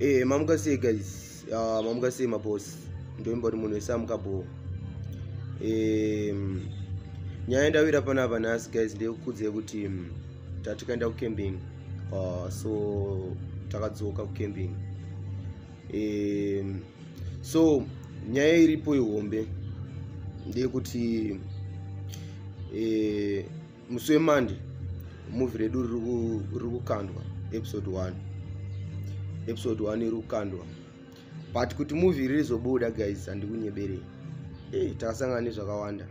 Eh, mamuka sei guys uh, mamuka sei mabosi ndoimba kuti munhu wese amuka bho eh, nyaya yendawira panapa nhasi guys ndeyekukudzei kuti um, tatikaenda kucamping uh, so takadzoka kucamping eh, so nyaya iripo ihombe ndeyekuti eh, musi wemande muvi redu riri kukandwa episode 1 episode 1 iri kukandwa but kuti muvi ririzobuda guys handikunyeberei ei takasangana nezvakawanda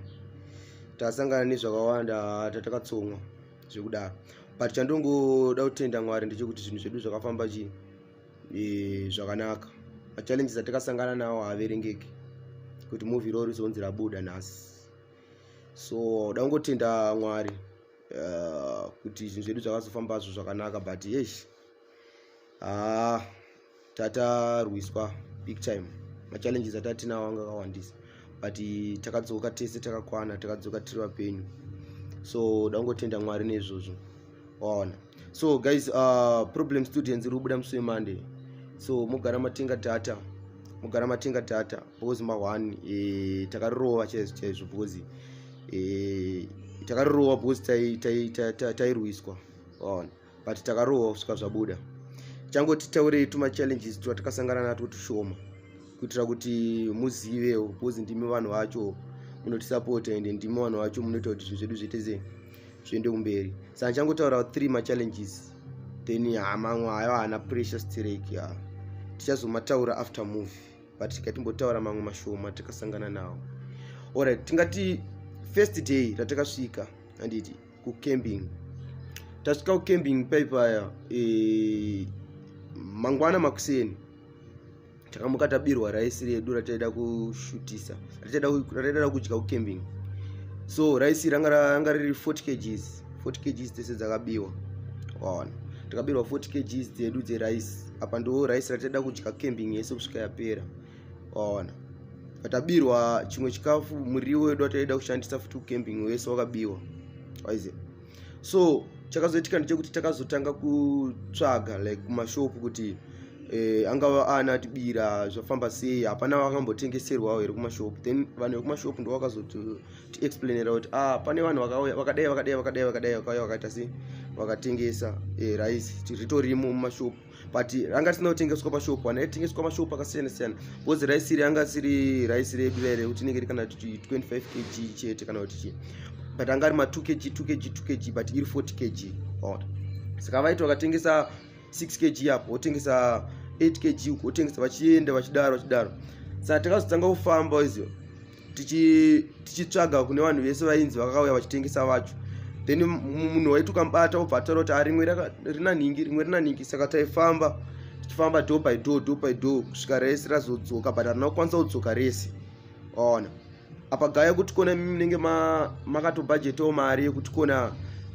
tasangana nezvakawanda tatakatsomwa zvekudaro but chandongoda kutenda mwari ndechekuti zvinhu zvedu zvakafamba chi e, zvakanaka machallenges atakasangana nawo haaverengeki kuti movie roo rizonzi rabuda nhasi so dangotenda mwari uh, kuti zvinhu zvedu zvakazofamba zvo zvakanaka but yes haa ah, tatarwiswa big time machallenges atatinawo anga akawandisa but takadzoka tese takakwana takadzoka tiri vapenyu so dangotenda mwari neizvozvo waona so guys uh, problem students iri kubuda musi wemonday so mogara matenga data mogara matenga data because mahwani e, eh, takarirova chaizvo chaizvo because e, eh, takarirova because tairwiswa waona but takarohwa kusvika zvabuda changoti taurei tuma challenges twatakasangana natwo tushoma kuitira kuti muzivewo because ndimi vanhu vacho munotisapota ende ndimi vanhu vacho munoita kuti zvinhu zvedu zviite sei zviende kumberi sa ndichangotaura three machallenges then hamamwe ah, ayo haana pressure stereki ah. tichazomataura after movie but tikatimbotaura mamwe mashoma tikasangana nawo orit tingati first day ratakasvika handiti kucamping tasvika kucamping paipaya e, eh, mangwana makuseni takamuka tabirwa raisi redu rataida kushutisa rataida kudya kucamping so raisi ranga riri 40 kgs 40 kgs tese dzakabiwa waona takabirwa 40 kgs dzedu dzerice apa ndo rice rataida kudya camping yese kusvika yapera waona patabirwa chimwe chikafu muriwo wedu wataida kushandisa futi ucamping wese wakabiwa waiziva so chakazoitika ndechekuti takazotanga kutsvaga like kumashop kuti eh, angava ana atibira zvafamba sei hapana vakambotengeserwawo here kumashop then vanhu vekumashop ndo vakazotixplainera kuti ah pane vanhu vakauya vakadai vakadai vakadai vakadai vakauya vakaita sei vakatengesa eh, rice ritorimo mumashop but ranga risina kutengeswa pashop ana aitengeswa mashop akasiyana siyana bcoz raisi iri anga siri raisi redu raire kuti inenge iri kana kuti 25 kg chete kana kuti chii but anga ari ma 2 kg 2 kg 2 kg but iri 40 kg ona saka vaiti vakatengesa 6 kg apo wotengesa 8 kg uko wotengesa vachienda vachidaro vachidaro saka takazotanga kufamba izio tichitsvaga kune vanhu vese vainzi vakauya vachitengesa vacho then munhu waituka mubata obva ataura kuti arimwe ah, rina nhingi rimwe rina nhingi saka taifamba tichifamba do by do do by do kusvika rese razodzoka but harina kukwanisa kudzoka rese waona apa gaya kuti kona munenge makatobhajetawo mari yekuti kona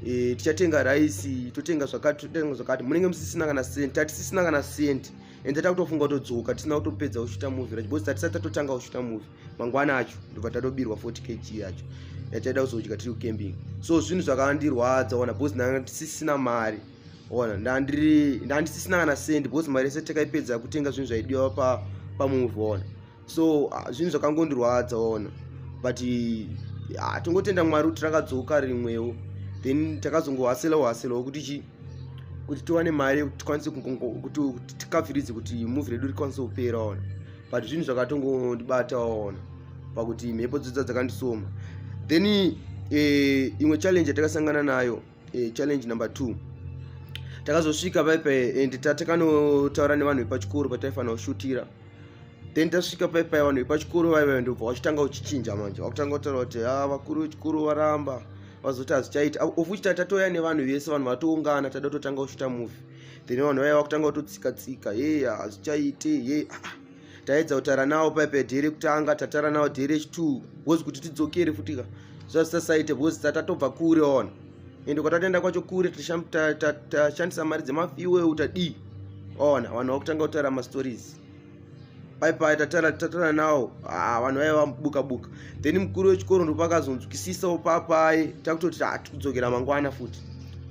e, tichatenga raisi totenga zvakati totenga zvakati munenge musisina kana senti tatisisina kana senti and takutofunga kutodzoka tisina kutopedza kushuta movie racho because tatisati tatotanga kushuta movie mangwana acho ndobva tatobirwa 40 kg yacho yataida kuzodya tiri kucamping so zvinhu zvakandirwadza ona because ndanga ndisisina mari ona ndandiri ndandisisina kana sendi because mari yese takaipedza kutenga zvinhu zvaidiwa pa pamovie ona so ah, zvinhu zvakangondirwadza ona but ah, tongotenda mwari kuti rakadzoka rimwewo then takazongohaselawo haselawo kuti chi kuti tiwane mari yekuti tikwanise kuti tikafiridze kuti muvi redu rikwanise kupera ona but zvinhu zvakatongondibata ona pakuti mhepo dzodza dzakandisoma then eh, imwe challenge yatakasangana nayo e, challenge number two takazosvika paipai and tatakanotaura nevanhu vepachikoro pataifanira kushutira then tasvika paipai vanhu vepachikoro vaiva ndobva wachitanga uchichinja manje wakutanga kutaura kuti ha ah, vakuru vechikoro varamba vazoti hazvichaita of which tatatoya nevanhu vese vanhu vatoungana tada kutotanga kushuta movie then vanhu vaiva vakutanga kutotsika tsika hei hazvichaite hei ah, ah. taedza kutaura nawo paipe dhiri kutanga tataura nawo dhiri chitwo bcoz kuti tidzokere futi ka zvazvisasaite bcoz tatatobva kure ona ende kwatatenda kwacho kure tashandisa mari dzemafiweu tadii ona vanhu vakutanga kutaura mastories paipai tataura nawo ah, vanhu vaive vabuka buka then mukuru wechikoro ndopakazonzwisisawo papai takutoti tikudzokera mangwana futi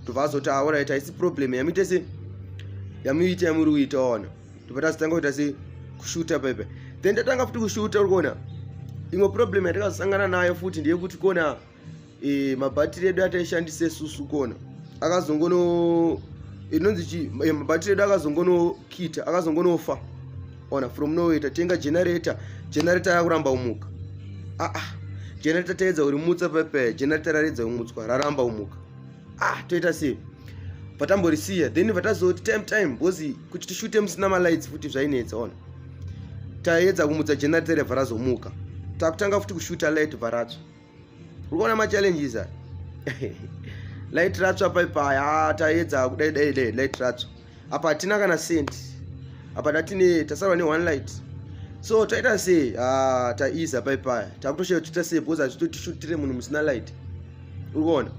ndovazoti aorit ah, haisi problem yamuitese yamuita yamuri kuita ona ndobva tazotanga kuita sei kushuta paipa then tatanga futi kushuta uri kuona imwe problem yatakazosangana nayo futi ndeyekuti kona e, mabhatiri edu ataishandise susu kona akazongono inonzi chi e, mabhatiri edu akazongonokita akazongonofa ona from noway tatenga generator generator yakuramba umuka aa ah, ah. generator taedza kurimutsa paipa generator raredza kumutswa raramba umuka ah toita sei patamborisiya then vatazoti time time bhozi kuti tishute musina malights futi zvainetsa ona taedza kumutsa generator varazomuka takutanga futi kushuta light varatsva uri kuona machallenges a light ratsva paipaya ah, taedza kudai dai dai light ratsva apa hatina kana cent apa tatine tasarwa ne one light so taita sei ah, taiza pai paya takutoshaya tiita sei because hazvitotishutire munhu musina light uri kuona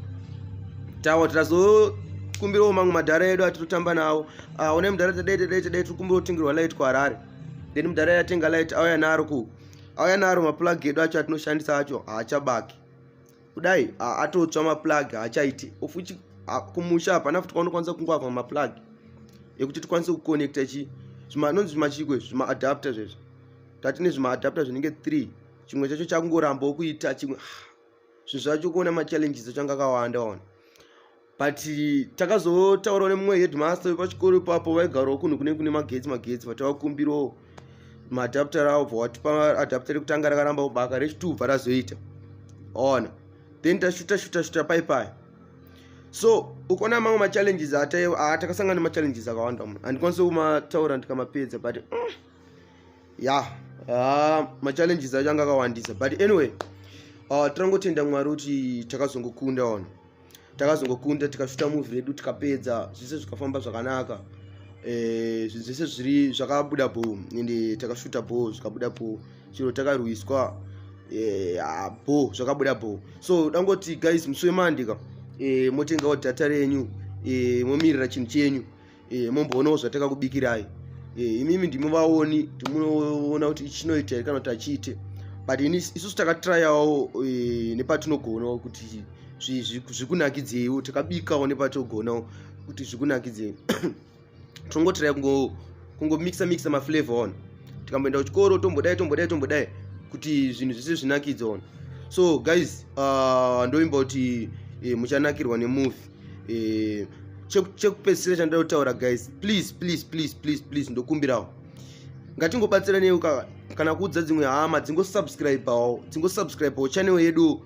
tawa titazokumbirawo mamwe madhara edu atitotamba nawo ah, one mudhara tadai tadai tadai tiri kumbira kutengerwa light kuharare then mudhara yatenga light auya naro ku auya naro maplug edu acho atinoshandisa acho haachabaki kudai atotsva maplug haachaiti of which kumusha hapana futi kwaunokwanisa kungwavha maplug ekuti tikwanise kuconnecta chi zvimanonzi zvimachiko izvi zvimaadapter zvezvo tati nezvimaadapter zvinenge three chimwe chacho chakungorambawo kuita chimwe ah, zvinhu zvacho kuona machallenges achanga akawanda ona but takazotaura nemumwe headmaster wepachikoro ipapo vaigarawo kunhu kune kune magetsi magetsi vatavakumbirawo maadapter avo bva watipa adapter rekutanga rakaramba kubaka rechitubva razoita ona then tashuta shuta shuta pai pai so ukona mamwe machallenges atakasangana nemachallenges akawanda mu handikwanise kumataura ndikamapedza but mm, ya ah, machallenges acho anga akawandisa but anyway ah, tirangotenda mwari kuti takazongokunda ona takazongokunda tikashuta movie redu tikapedza zvese zvikafamba zvakanaka eh, zvinhu zvese zviri zvakabuda bho ende takashuta bho zvikabuda bho chero takarwiswa eh, ah, bho zvakabuda bho so dangoti guys musi wemandika eh, motengawo data renyu momirira chinhu chenyu e, momboonawo zvatakakubikirai e, eh, imimi ndimi vaoni timunoona kuti chinoita here kana kuti achiite but ini isusu takatrayawo e, eh, nepatinogona kuti zvikunakidzeiwo takabikawo nepatogona kuti zvikunakidzei tongotiraya kungo kungomixa mixa maflavor on tikamboenda kuchikoro tombodai tombodai tombodai kuti zvinhu zvese zvinakidza on so guys uh, ndoimba kuti eh, muchanakirwa nemovie eh, chekupedzisira chandida kutaura guys please please please please please ndokumbirawo ngatingobatsiranei kana kuudza dzimwe hama dzingosubscribawo dzingosubscribawo channel yedu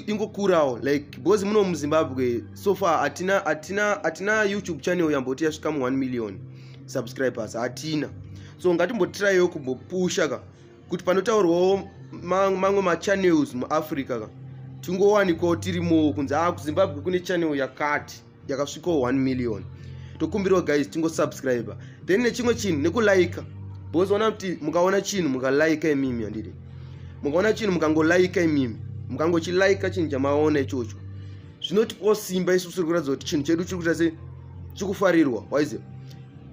ingokurawo like because muno muzimbabwe so far hatina hatina hatina youtube channel yamboti yasvika mu 1 million subscribers hatina so ngatimbotiraiwo kumbopusha ka kuti panotaurwawo mamwe machannels muafrica ka tingowanikawo tirimowo kunzi haa kuzimbabwe kune channel yakati yakasvikawo 1 million tokumbirawo guys tingosubscribe then nechimwe chinhu nekulika because ona kuti mukaona chinhu mukalika imimi andidi mukaona chinhu mukangolika imimi mukangochilika chinhu chamaona ichocho zvinotipawo simba isu tiri kuratidza kuti chinhu chedu chiri kuita se chikufarirwa waize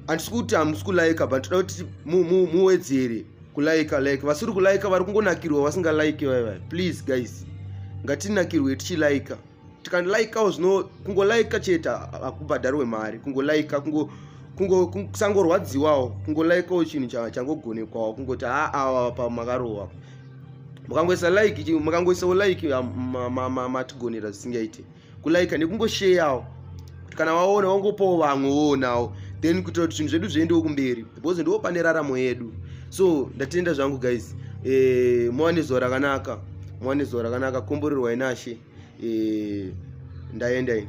handisi kuti hamusi kulaika but toda kuti muwedzere kulaika like vasiri kulaika vari kungonakirwa vasingalaike vaivai please guys ngatinakirwe tichilaika tikalaikawo zvino kungolaika chete hakubhadharwe mari kungolaika kungo kusangorwadziwawo kungolaikawo chinhu changogonekwawo kungoti haa awa pamakarohwa mukangoisa like mukangoisawo like matigonera zvisingaite kulaika nekungosheyawo kuti kana waona wangopawo vamwe woonawo then kuitira kuti zvinhu zvedu zviendewo kumberi because ndiwo pane raramo yedu so ndatenda zvangu guys e, muwane zuva rakanaka muwane zuva rakanaka komborerwa inashe e, eh, ndaenda ini